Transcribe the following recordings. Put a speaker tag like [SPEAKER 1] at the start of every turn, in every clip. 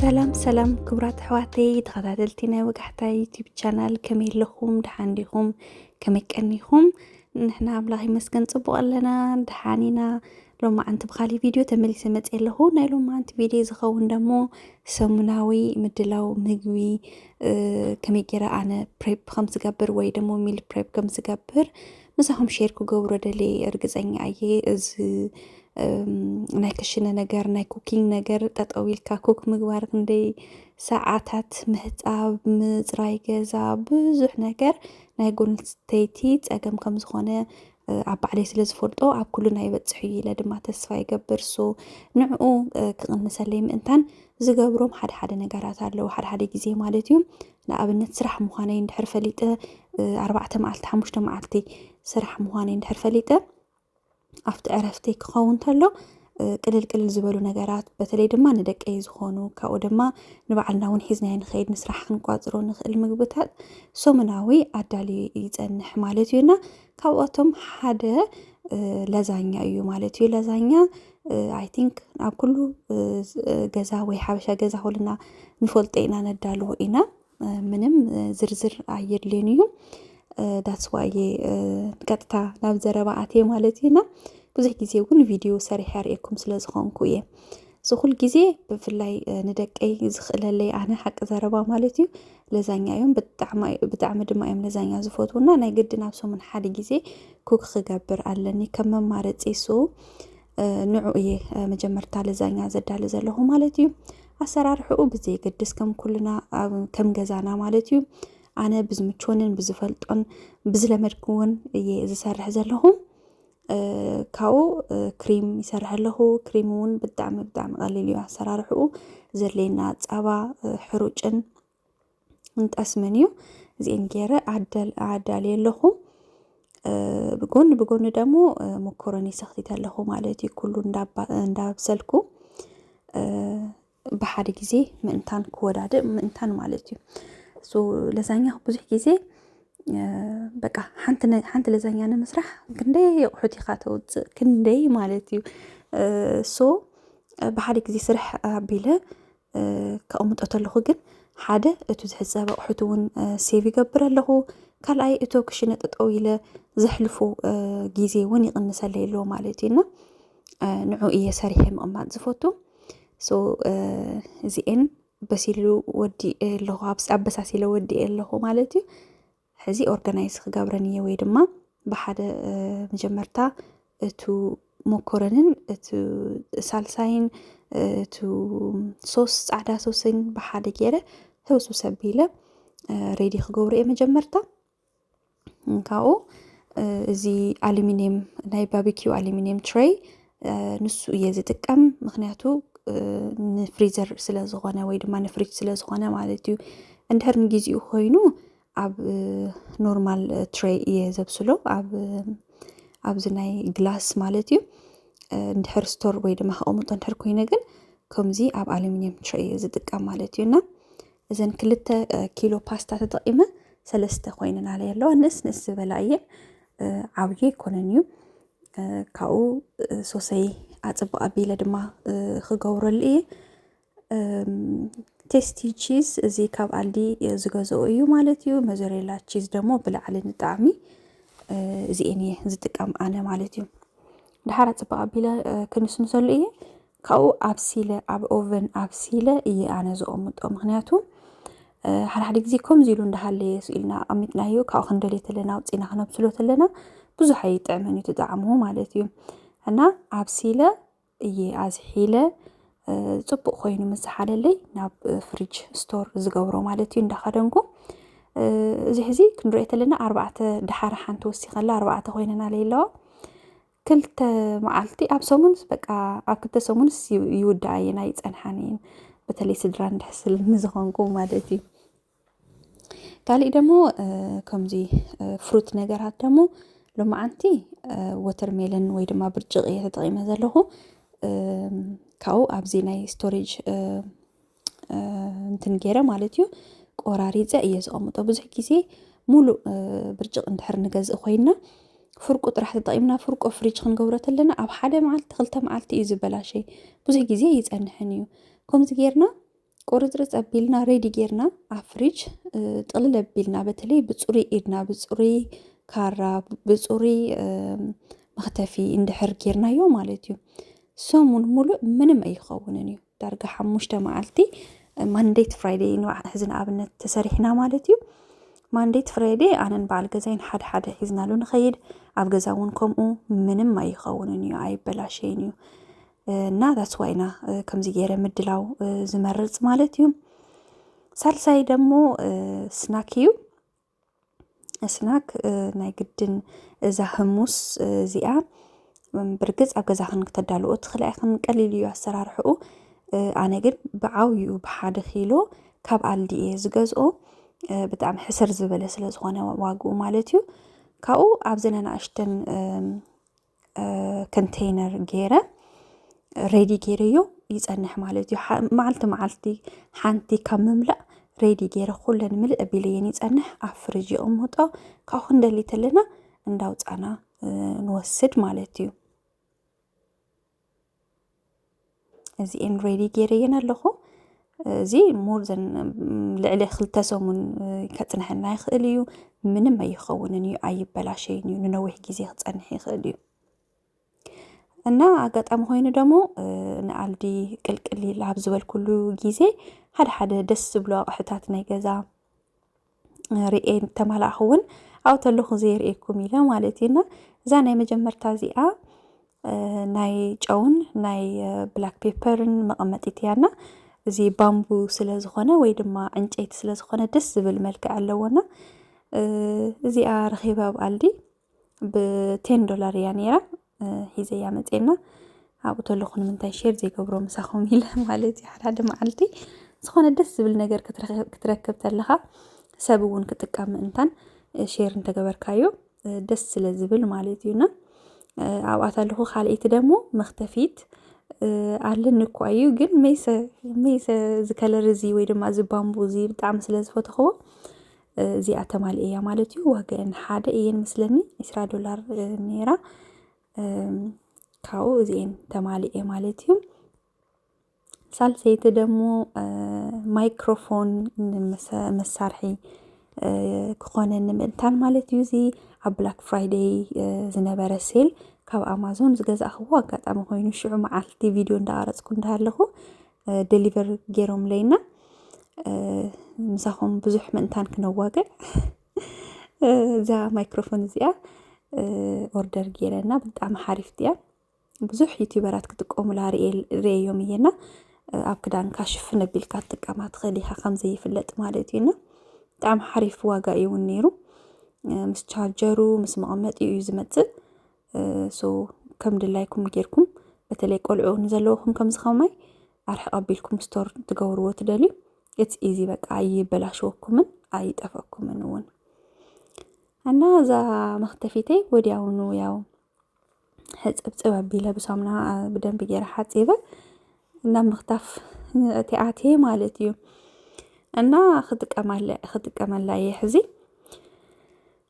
[SPEAKER 1] ሰላም ሰላም ክቡራት ኣሕዋተይ ተኸታተልቲ ናይ ወጋሕታ ዩቲብ ቻናል ከመይ ኣለኹም ድሓን ዲኹም ከመይ ቀኒኹም ንሕና ኣምላኽ ይመስገን ፅቡቕ ኣለና ድሓን ኢና ሎማዓንቲ ብካሊእ ቪድዮ ተመሊሰ መፅየ ኣለኹ። ናይ ሎማዓንቲ ቪድዮ ዝኸውን ደሞ ሰሙናዊ ምድላው ምግቢ ከመይ ጌረ ኣነ ፕሬፕ ከም ዝገብር ወይ ደሞ ሚል ፕሬፕ ከም ዝገብር ምሳኹም ሼር ክገብሮ ደልየ እርግፀኛ እየ እዚ ናይ ክሽነ ነገር ናይ ኩኪንግ ነገር ጠጠው ኢልካ ኩክ ምግባር ክንደይ ሰዓታት ምህፃብ ምፅራይ ገዛ ብዙሕ ነገር ናይ ጎንስተይቲ ፀገም ከም ዝኾነ ኣብ ባዕለይ ስለ ዝፈልጦ ኣብ ኩልና ይበፅሕ እዩ ኢለ ድማ ተስፋ ይገብር ሶ ንዕኡ ክቕንሰለይ ምእንታን ዝገብሮም ሓደ ሓደ ነገራት ኣለዉ ሓደ ሓደ ግዜ ማለት እዩ ንኣብነት ስራሕ ምዃነይ እንድሕር ፈሊጠ ኣርባዕተ መዓልቲ ሓሙሽተ መዓልቲ ስራሕ ምዃነይ እንድሕር ፈሊጠ ኣብቲ ዕረፍቲ ክኸውን ተሎ ቅልል ቅልል ዝበሉ ነገራት በተለይ ድማ ንደቀይ ዝኾኑ ካብኡ ድማ ንባዕልና እውን ሒዝናዮ ንኸይድ ንስራሕ ክንቋፅሮ ንኽእል ምግብታት ሶሙናዊ ኣዳልዩ ይፀንሕ ማለት እዩና ካብኣቶም ሓደ ለዛኛ እዩ ማለት እዩ። ለዛኛ ኣይ ቲንክ ኣብ ኩሉ ገዛ ወይ ሓበሻ ገዛ ኮልና ንፈልጦ ኢና ነዳልዎ ኢና። ምንም ዝርዝር ኣየድልዮን እዩ። ዳትስ ዋይ እየ ቀጥታ ናብ ዘረባ ኣትየ ማለት እዩና ብዙሕ ግዜ እውን ቪድዮ ሰሪሐ ርእየኩም ስለ ዝኾንኩ እየ ዝኹል ግዜ ብፍላይ ንደቀይ ዝኽእለለይ ኣነ ሓቂ ዘረባ ማለት እዩ ለዛኛ እዮም ብጣዕሚ ድማ እዮም ለዛኛ ዝፈትውና ናይ ግድን ኣብ ሰሙን ሓደ ግዜ ኩክ ክገብር ኣለኒ ከም መማረፂ ሶ ንዑ እየ መጀመርታ ለዛኛ ዘዳሊ ዘለኹ ማለት እዩ ኣሰራርሕኡ ብዘይ ገድስ ከም ኩልና ከም ገዛና ማለት እዩ ኣነ ብዝምችወንን ብዝፈልጦን ብዝለመድክዎን እየ ዝሰርሕ ዘለኹ ካብኡ ክሪም ይሰርሐ ኣለኹ ክሪም እውን ብጣዕሚ ብጣዕሚ ቀሊል እዩ ኣሰራርሕኡ ዘድልየና ፃባ ሕሩጭን እንጠስምን እዩ እዚኤን ገይረ ኣዳልየ ኣለኹ ብጎኒ ብጎኒ ደግሞ መኮረኒ ሰኽቲት ኣለኹ ማለት እዩ ኩሉ እንዳብሰልኩ ብሓደ ግዜ ምእንታን ክወዳድእ ምእንታን ማለት እዩ ሶ ለዛኛ ብዙሕ ግዜ በቃ ሓንቲ ለዛኛ ንምስራሕ ክንደይ የቑሑት ኢኻ ተውፅእ ክንደይ ማለት እዩ ሶ ብሓደ ግዜ ስራሕ ኣቢለ ከቕምጦ ተለኹ ግን ሓደ እቱ ዝሕፀበ ኣቑሑት እውን ሴቭ ይገብር ኣለኹ ካልኣይ እቶ ክሽነ ጠጠው ኢለ ዘሕልፎ ግዜ እውን ይቕንሰለይ ኣሎ ማለት እዩ እና ንዑ እየ ሰሪሐ ምቕማጥ ዝፈቱ እዚኤን በሲሉ ወዲ ኣለኹ ኣበሳሲለ ወዲ ኣለኹ ማለት እዩ ሕዚ ኦርጋናይዝ ክገብረን እየ ወይ ድማ ብሓደ መጀመርታ እቱ ሞኮረንን እቱ ሳልሳይን እቱ ሶስ ፃዕዳ ሶስን ብሓደ ገይረ ህውሱ ሰቢለ ሬዲ ክገብሩ እየ መጀመርታ ካብኡ እዚ ኣሉሚኒየም ናይ ባቢኪው ኣሉሚኒየም ትሬይ ንሱ እየ ዝጥቀም ምክንያቱ ንፍሪዘር ስለ ዝኾነ ወይ ድማ ንፍሪጅ ስለ ዝኾነ ማለት እዩ እንድሕር ንግዜኡ ኮይኑ ኣብ ኖርማል ትሬይ እየ ዘብስሎ ኣብ ኣብዚ ናይ ግላስ ማለት እዩ እንድሕር ስቶር ወይ ድማ ከቐምጦ እንድሕር ኮይነ ግን ከምዚ ኣብ ኣሉሚኒየም ትሬይ እየ ዝጥቀም ማለት እዩ እና እዘን ክልተ ኪሎ ፓስታ ተጠቒመ ሰለስተ ኮይነን ኣለየ ኣለዋ ንእስ ንእስ ዝበላ እየን ዓብዩ ኣይኮነን እዩ ካብኡ ሶሰይ ኣፅብቕ ኣቢለ ድማ ክገብረሉ እየ ቴስቲ ቺዝ እዚ ካብ ኣልዲ ዝገዝኦ እዩ ማለት እዩ መዘሬላ ቺዝ ደግሞ ብላዕሊ ንጣዕሚ እዚኤን እየ ዝጥቀም ኣነ ማለት እዩ ድሓር ኣፅብቕ ኣቢለ ክንስንሰሉ እየ ካብኡ ኣብሲለ ኣብ ኦቨን ኣብሲለ እየ ኣነ ዘቐምጦ ምክንያቱ ሓድሓደ ግዜ ከምዚ ኢሉ እንዳሃለየ ስኢልና ኣቐሚጥናዮ ካብኡ ክንደልየ ተለና ውፅኢና ክነብስሎ ተለና ብዙሕ ኣይጥዕምን እዩ ትጣዕሙ ማለት እዩ እና ኣብሲለ እየ ኣዝሒለ ፅቡቅ ኮይኑ ምስ ዝሓለለይ ናብ ፍሪጅ ስቶር ዝገብሮ ማለት እዩ እንዳኸደንኩ እዚ ሕዚ ክንሪኦ ተለና ኣርባዕተ ድሓር ሓንቲ ወሲኸላ ኣርባዕተ ኮይነና ለይለዋ ክልተ መዓልቲ ኣብ ሰሙንስ በቃ ኣብ ክልተ ሰሙንስ ይውዳኣ እየን ኣይፀንሓን እየን በተለይ ስድራ እንድሕስል ንዝኾንኩ ማለት እዩ ካሊእ ደግሞ ከምዚ ፍሩት ነገራት ደግሞ ሎማዓንቲ ወተርሜለን ወይ ድማ ብርጭቅ እየ ተጠቂመ ዘለኹ ካብኡ ኣብዚ ናይ ስቶሬጅ እንትን ገይረ ማለት እዩ ቆራሪፀ እየ ዝቐምጦ ብዙሕ ግዜ ሙሉእ ብርጭቅ እንድሕር ንገዝእ ኮይና ፍርቁ ጥራሕ ተጠቂምና ፍርቆ ፍሪጅ ክንገብሮ ተለና ኣብ ሓደ መዓልቲ ክልተ መዓልቲ እዩ ዝበላሸይ ብዙሕ ግዜ ይፀንሕን እዩ ከምዚ ጌርና ቁርፅርፅ ኣቢልና ሬዲ ጌርና ኣብ ፍሪጅ ጥቕልል ኣቢልና በተለይ ብፅሩይ ኢድና ብፅሩይ ካራ ብፅሩይ መኽተፊ እንድሕር ጌርናዮ ማለት እዩ ሰሙን ሙሉእ ምንም ኣይኸውንን እዩ ዳርጋ ሓሙሽተ መዓልቲ ማንዴት ፍራይደይ ንባዕ ሕዚ ንኣብነት ተሰሪሕና ማለት እዩ ማንዴት ፍራይደይ ኣነን በዓል ገዛይን ሓደ ሓደ ሒዝናሉ ንኸይድ ኣብ ገዛ እውን ከምኡ ምንም ኣይኸውንን እዩ ኣይበላሸይን እዩ እና ዳስዋይና ከምዚ ገይረ ምድላው ዝመርፅ ማለት እዩ ሳልሳይ ደግሞ ስናክ እዩ እስናክ ናይ ግድን እዛ ህሙስ እዚኣ ብርግፅ ኣብ ገዛኽን ክተዳልኦ ትኽእላ ኢኽን ቀሊል እዩ ኣሰራርሕኡ ኣነ ግን ብዓብይኡ ብሓደ ኪሎ ካብ ኣልዲ እየ ዝገዝኦ ብጣዕሚ ሕስር ዝበለ ስለ ዝኾነ ዋግኡ ማለት እዩ ካብኡ ኣብዘን ኣናእሽተን ኮንተይነር ገይረ ሬዲ ገይረዮ ይፀንሕ ማለት እዩ መዓልቲ መዓልቲ ሓንቲ ካብ ምምላእ ሬዲ ገይረ ኩለን ምልእ ኣቢለየን ይፀንሕ ኣብ ፍርጅ ይቕምጦ ካብኡ ክንደሊ ተለና እንዳውፃና ንወስድ ማለት እዩ እዚ ኤንሬዲ ገይረየን ኣለኹ እዚ ሞር ዘን ልዕሊ ክልተ ሰሙን ከፅንሐና ይኽእል እዩ ምንም ኣይኸውንን እዩ ኣይበላሸይን እዩ ንነዊሕ ግዜ ክፀንሕ ይኽእል እዩ እና ኣጋጣሚ ኮይኑ ደግሞ ንኣልዲ ቅልቅል ኣብ ዝበልኩሉ ግዜ ሓደ ሓደ ደስ ዝብሉ ኣቕሕታት ናይ ገዛ ርኤ ተማላእኹ እውን ኣብኡ ተለኹ ዘይርእየኩም ኢለ ማለት እዩ እና እዛ ናይ መጀመርታ እዚኣ ናይ ጨውን ናይ ብላክ ፔፐርን መቐመጢት እያ እና እዚ ባምቡ ስለ ዝኾነ ወይ ድማ ዕንጨይቲ ስለ ዝኾነ ደስ ዝብል መልክዕ ኣለዎና እዚኣ ረኺበ ኣብ ኣልዲ ብቴን ዶላር እያ ነይራ ሒዘያ መፅና ኣብኡ ተለኹ ንምንታይ ሼር ዘይገብሮ ምሳኹም ኢለ ማለት እዩ ሓደ መዓልቲ ዝኾነ ደስ ዝብል ነገር ክትረክብ ተለኻ ሰብ እውን ክጥቀም ምእንታን ሼር እንተገበርካዮ ደስ ስለ ዝብል ማለት እዩና ኣብኣ ተለኹ ካልኣይቲ ደግሞ መክተፊት ኣለኒ እኳ እዩ ግን መይሰ መይሰ ዝከለር እዚ ወይ ድማ እዚ ባምቡ እዚ ብጣዕሚ ስለ ዝፈተኽዎ እዚኣ ተማልእ እያ ማለት እዩ ዋግአን ሓደ እየን ምስለኒ ዕስራ ዶላር ነይራ ካብኡ እዚኤን ተማልኤ ማለት እዩ ሳልሰይቲ ደግሞ ማይክሮፎን መሳርሒ ክኾነ ንምእንታን ማለት እዩ እዚ ኣብ ብላክ ፍራይደይ ዝነበረ ሴል ካብ ኣማዞን ዝገዛእኽዎ ኣጋጣሚ ኮይኑ ሽዑ መዓልቲ ቪድዮ እንዳቀረፅኩ እንዳሃለኹ ደሊቨር ገይሮምለይ እና ምሳኹም ብዙሕ ምእንታን ክነዋግዕ እዛ ማይክሮፎን እዚኣ ኦርደር ገይረና ብጣዕሚ ሓሪፍቲ እያ ብዙሕ ዩቲበራት ክጥቀሙላ ርእዮም እየና ኣብ ክዳንካ ሽፍን ኣቢልካ ትጥቀማ ትኽእል ኢኻ ከምዘይፍለጥ ማለት እዩና ብጣዕሚ ሓሪፍ ዋጋ እዩ እውን ነይሩ ምስ ቻርጀሩ ምስ መቐመጢኡ እዩ ዝመፅእ ሶ ከም ድላይኩም ጌርኩም በተለይ ቆልዑ ንዘለውኹም ከምዚ ከማይ ኣርሕቕ ኣቢልኩም ስቶር ትገብርዎ ትደልዩ ኢትስ ኢዚ በቃ ኣይበላሸወኩምን ኣይጠፈኩምን እውን እና እዛ መክተፊተይ ወዲያውኑ ያው ሕፅብፅብ ኣቢለ ብሳሙና ብደንብ ጌረ ሓፂበ እና ምክታፍ እቲኣቴ ማለት እዩ እና ክጥቀመላ እየ ሕዚ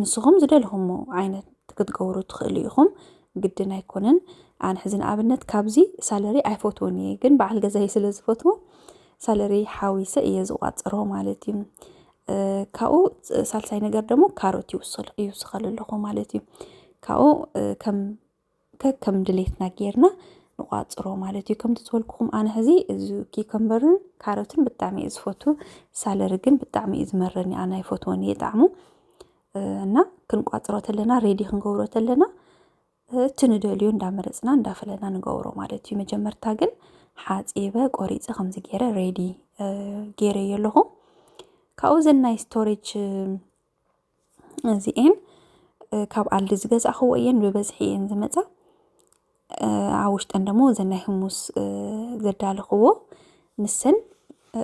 [SPEAKER 1] ንስኹም ዝደልኹሞ ዓይነት ክትገብሩ ትኽእሉ ኢኹም ግድን ኣይኮነን ኣነ ሕዚ ንኣብነት ካብዚ ሳለሪ ኣይፈትዎን እየ ግን በዓል ገዛይ ስለ ዝፈትዎ ሳለሪ ሓዊሰ እየ ዝቋፅሮ ማለት እዩ ካብኡ ሳልሳይ ነገር ደግሞ ካሮት ይውስኸሉ ኣለኹ ማለት እዩ ካብኡ ከም ከከም ድሌትና ጌርና ንቋፅሮ ማለት እዩ ከምቲ ዝበልኩኹም ኣነ ሕዚ እዚ ኪከምበርን ካሮትን ብጣዕሚ እዩ ዝፈቱ ሳለሪ ግን ብጣዕሚ እዩ ዝመረኒ ኣነ ኣይፈትዎን እየ ጣዕሙ እና ክንቋፅሮ ተለና ሬዲ ክንገብሮ ተለና እቲ ንደልዮ እንዳመረፅና እንዳፈለና ንገብሮ ማለት እዩ መጀመርታ ግን ሓፂበ ቆሪፀ ከምዚ ገይረ ሬዲ ገይረዮ ኣለኹ ካብኡ ዘናይ ስቶሬጅ እዚኤን ካብ ኣልዲ ዝገዛእኽዎ እየን ብበዝሒ እየን ዝመፃ ኣብ ውሽጠን ደሞ እዘን ናይ ህሙስ ዘዳለኽዎ ንሰን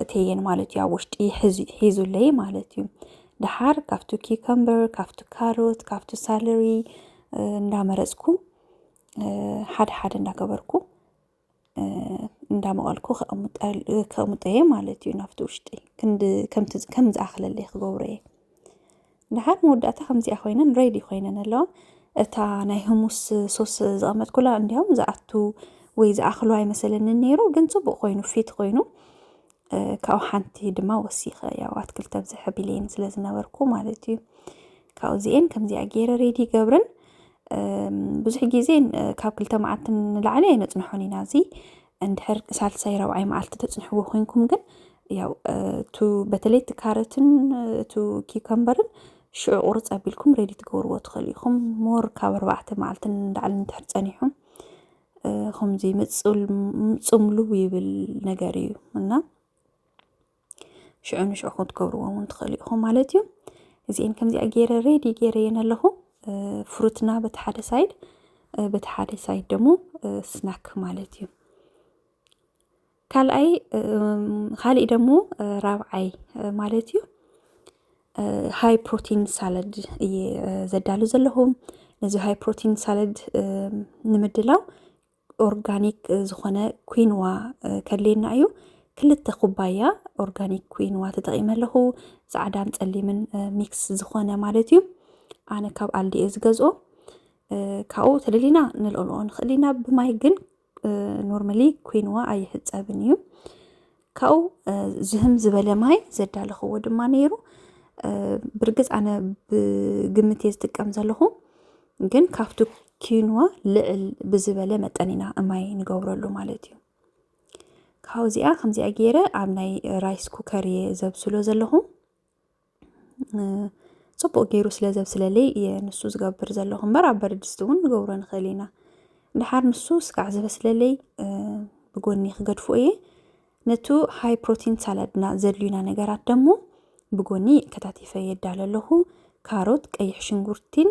[SPEAKER 1] እቴየን ማለት እዩ ኣብ ውሽጢ ሒዙለይ ማለት እዩ ደሓር ካብቲ ኪከምበር ካብቲ ካሮት ካብቲ ሳለሪ እንዳመረፅኩ ሓደ ሓደ እንዳገበርኩ እንዳመቐልኩ ከቕምጦ እየ ማለት እዩ ናብቲ ውሽጢ ከም ዝኣኽለለይ ክገብሮ እየ ድሓር መወዳእታ ከምዚኣ ኮይነን ሬዲ ኮይነን ኣለዋ እታ ናይ ህሙስ ሶስ ዝቐመጥኩላ እንዲያውም ዝኣቱ ወይ ዝኣኽሉ ኣይመሰለንን ነይሩ ግን ፅቡቅ ኮይኑ ፊት ኮይኑ ካብኡ ሓንቲ ድማ ወሲኸ ያው ኣትክልቲ ኣብዝሐ ቢለይን ስለ ዝነበርኩ ማለት እዩ ካብኡ እዚኤን ከምዚኣ ገይረ ሬዲ ይገብረን ብዙሕ ግዜ ካብ ክልተ መዓልቲ ንላዕሊ ኣይነፅንሖን ኢና እዚ እንድሕር ሳልሳይ ረብዓይ መዓልቲ ተፅንሕዎ ኮንኩም ግን ያው እቱ በተለይ እቲ ካረትን እቱ ኪከምበርን ሽዑ ቁርፅ ኣቢልኩም ሬዲ ትገብርዎ ትኽእሉ ኢኹም ሞር ካብ ኣርባዕተ መዓልቲ ንላዕሊ እንድሕር ፀኒሑም ከምዚ ምጽምሉ ይብል ነገር እዩ እና ሽዑ ንሽዑ ክትገብርዎ እውን ትኽእሉ ኢኹም ማለት እዩ እዚአን ከምዚኣ ገይረ ሬዲ ገይረ እየን ኣለኹ ፍሩትና በቲ ሓደ ሳይድ በቲ ሓደ ሳይድ ደግሞ ስናክ ማለት እዩ ካልኣይ ካሊእ ደሞ ራብዓይ ማለት እዩ ሃይ ፕሮቲን ሳለድ እየ ዘዳሉ ዘለኹ ነዚ ሃይ ፕሮቲን ሳለድ ንምድላው ኦርጋኒክ ዝኾነ ኩንዋ ከድልየና እዩ ክልተ ኩባያ ኦርጋኒክ ኩንዋ ተጠቂመ ኣለኹ ፃዕዳን ፀሊምን ሚክስ ዝኾነ ማለት እዩ ኣነ ካብ ኣልዲ እየ ዝገዝኦ ካብኡ ተደሊና ንልዕልኦ ንኽእል ኢና ብማይ ግን ኖርማሊ ኮይንዋ ኣይሕፀብን እዩ ካብኡ ዝህም ዝበለ ማይ ዘዳለኽዎ ድማ ነይሩ ብርግፅ ኣነ ብግምት እየ ዝጥቀም ዘለኹ ግን ካብቲ ኪንዋ ልዕል ብዝበለ መጠን ኢና ማይ ንገብረሉ ማለት እዩ ካብኡ እዚኣ ከምዚኣ ገይረ ኣብ ናይ ራይስ ኩከር እየ ዘብስሎ ዘለኹ ፅቡቅ ገይሩ ስለ ዘብስለለይ እየ ንሱ ዝገብር ዘለኹ እምበር ኣብ በረድስቲ እውን ንገብሮ ንኽእል ኢና ድሓር ንሱ ስጋዕ ዝበስለለይ ብጎኒ ክገድፎ እየ ነቱ ሃይ ፕሮቲን ሳላድና ዘድልዩና ነገራት ደግሞ ብጎኒ ከታቲፈ የዳለ ኣለኹ ካሮት ቀይሕ ሽንጉርቲን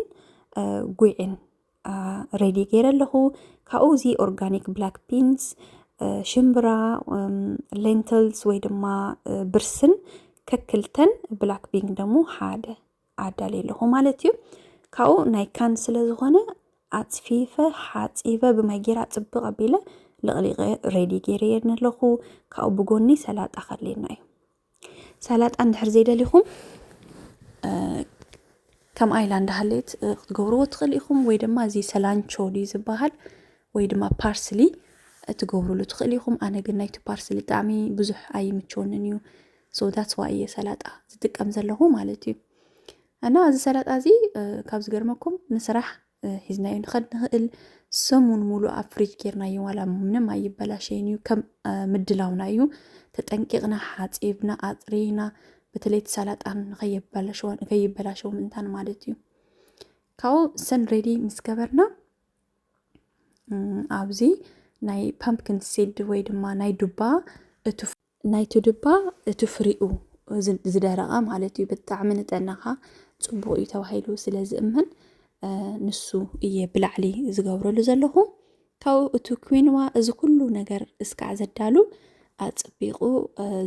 [SPEAKER 1] ጉዕን ሬዲ ገይረ ኣለኹ ካብኡ እዚ ኦርጋኒክ ብላክ ቢንስ ሽምብራ ሌንትልስ ወይ ድማ ብርስን ከክልተን ብላክ ቢንግ ደግሞ ሓደ ኣዳልየ ኣለኹ ማለት እዩ ካብኡ ናይ ካን ስለ ዝኾነ ኣፅፊፈ ሓፂበ ብማይ ጌራ ፅብቅ ኣቢለ ልቕሊቐ ሬዲ ገይረ የድኒ ኣለኹ ካብኡ ብጎኒ ሰላጣ ከሌና እዩ ሰላጣ እንድሕር ዘይደሊኹም ከም ኣይላ እንዳሃለየት ክትገብርዎ ትኽእል ኢኹም ወይ ድማ እዚ ሰላንቾ ድዩ ዝበሃል ወይ ድማ ፓርስሊ እትገብርሉ ትኽእል ኢኹም ኣነ ግን ናይቲ ፓርስሊ ጣዕሚ ብዙሕ ኣይምቸወንን እዩ ሶዳትስ ዋይ እየ ሰላጣ ዝጥቀም ዘለኹ ማለት እዩ እና እዚ ሰላጣ እዚ ካብ ዝገርመኩም ንስራሕ ሒዝናዮ ንኸድ ንኽእል ሰሙን ሙሉእ ኣብ ፍሪጅ ጌርናዮ ዋላ ምንም ኣይበላሸይን እዩ ከም ምድላውና እዩ ተጠንቂቕና ሓፂብና ኣፅሪና በተለይ እቲ ሰላጣን ንከይበላሸው ምእንታን ማለት እዩ ካብኡ ሰን ሬዲ ምስ ገበርና ኣብዚ ናይ ፓምፕኪን ሲድ ወይ ድማ ናይ ዱባ እቱ ናይቲ ድባ እቲ ፍሪኡ ዝደረቐ ማለት እዩ ብጣዕሚ ንጠናኻ ፅቡቕ እዩ ተባሂሉ ስለ ዝእመን ንሱ እየ ብላዕሊ ዝገብረሉ ዘለኹ ካብኡ እቲ ኩንዋ እዚ ኩሉ ነገር እስካዕ ዘዳሉ ኣፅቢቑ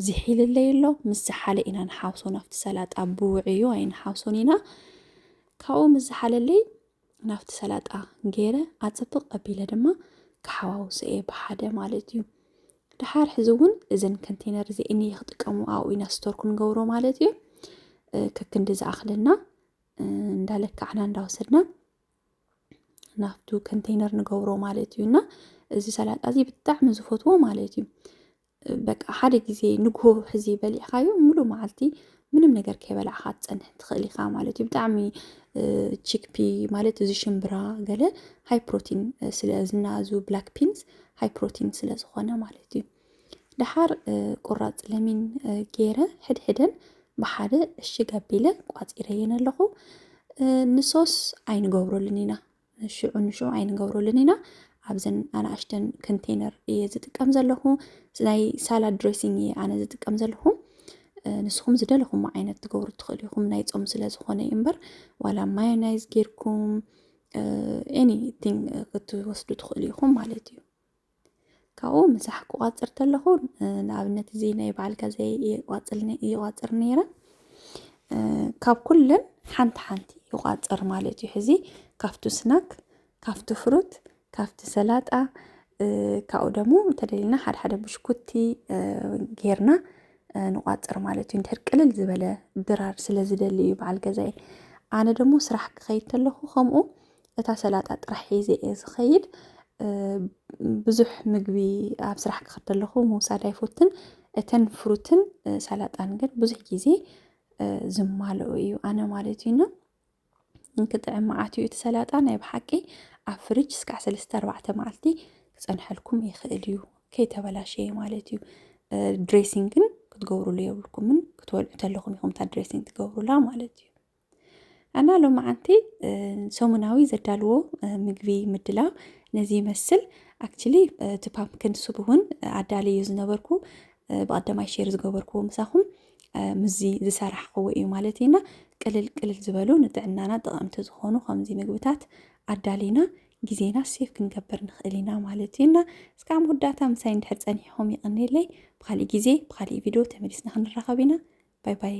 [SPEAKER 1] ዝሒልለይ ኣሎ ምስ ዝሓለ ኢና ንሓውሶ ናብቲ ሰላጣ ብውዕዩ ኣይንሓውሶን ኢና ካብኡ ምስ ዝሓለለይ ናብቲ ሰላጣ ገይረ ኣፅብቕ ኣቢለ ድማ ክሓዋውሶ እየ ብሓደ ማለት እዩ ድሓር ሕዚ እውን እዘን ከንቴነር እዚአን እየ ክጥቀሙ ኣብኡ ኢና ስቶር ክንገብሮ ማለት እዩ ከክንዲ ዝኣኽለና እንዳለካዕና እንዳወሰድና ናብቱ ከንቴነር ንገብሮ ማለት እዩ እና እዚ ሰላጣ እዚ ብጣዕሚ ዝፈትዎ ማለት እዩ በቃ ሓደ ግዜ ንግሆ ሕዚ በሊዕካዮ ሙሉእ መዓልቲ ምንም ነገር ከይበላዕካ ትፀንሕ ትኽእል ኢኻ ማለት እዩ ብጣዕሚ ቺክፒ ማለት እዚ ሽምብራ ገለ ሃይ ፕሮቲን ስለ ዝናዙ ብላክ ፒንስ ሃይ ፕሮቲን ስለ ዝኾነ ማለት እዩ ደሓር ቁራፅ ለሚን ገይረ ሕድሕደን ብሓደ እሽግ ኣቢለ ቋፂረየን ኣለኹ ንሶስ ኣይንገብረሉን ኢና ሽዑ ንሽዑ ኣይንገብረሉን ኢና ኣብዘን ኣናእሽተን ኮንቴነር እየ ዝጥቀም ዘለኹ ናይ ሳላድ ድሬሲንግ እየ ኣነ ዝጥቀም ዘለኹ ንስኹም ዝደለኹም ዓይነት ትገብሩ ትኽእሉ ኢኹም ናይ ፆም ስለ ዝኾነ እዩ እምበር ዋላ ማዮናይዝ ጌርኩም ኤኒቲንግ ክትወስዱ ትኽእሉ ኢኹም ማለት እዩ ካብኡ ምሳሕ ክቋፅር ተለኹ ንኣብነት እዚ ናይ በዓል ከዘ ይቋፅር ነይረ ካብ ኩለን ሓንቲ ሓንቲ ይቋፅር ማለት እዩ ሕዚ ካብቱ ስናክ ካብቱ ፍሩት ካብቲ ሰላጣ ካብኡ ደግሞ ተደሊልና ሓደ ሓደ ብሽኩቲ ጌርና ንቋፅር ማለት እዩ እንድሕር ቅልል ዝበለ ድራር ስለ ዝደሊ እዩ በዓል ገዛይ ኣነ ደግሞ ስራሕ ክኸይድ ተለኹ ከምኡ እታ ሰላጣ ጥራሕ ሒዘ እየ ዝኸይድ። ብዙሕ ምግቢ ኣብ ስራሕ ክኸድ ከለኹ ምውሳድ ኣይፎትን። እተን ፍሩትን ሰላጣን ግን ብዙሕ ግዜ ዝማልኦ እዩ ኣነ ማለት እዩና እንክጥዕም መዓት እዩ እቲ ሰላጣ ናይ ብሓቂ ኣብ ፍርጅ እስካዕ ሰለስተ ኣርባዕተ መዓልቲ ክፀንሐልኩም ይኽእል እዩ ከይተበላሸየ ማለት እዩ። ድሬሲንግን ክትገብሩሉ የብልኩምን ክትበልዑ ተለኹም ኢኹም እታ ድሬሲንግ ትገብሩላ ማለት እዩ። እና ሎማዓንቲ ሰሙናዊ ዘዳልዎ ምግቢ ምድላው ነዚ ይመስል ኣክቹሊ እቲ ፓምፕክን ሱብ እውን ኣዳልዩ ዝነበርኩ ብቐዳማይ ሼር ዝገበርኩዎ ምሳኹም ምዚ ዝሰራሕኽዎ እዩ ማለት እዩና ቅልል ቅልል ዝበሉ ንጥዕናና ጠቐምቲ ዝኾኑ ከምዚ ምግብታት ኣዳሊና ግዜና ሴፍ ክንገብር ንኽእል ኢና ማለት እዩና እስካብ መወዳእታ ምሳይ እንድሕር ፀኒሕኹም ይቕኒለይ ብካሊእ ግዜ ብካሊእ ቪድዮ ተመሊስና ክንራኸብ ኢና ባይ ባይ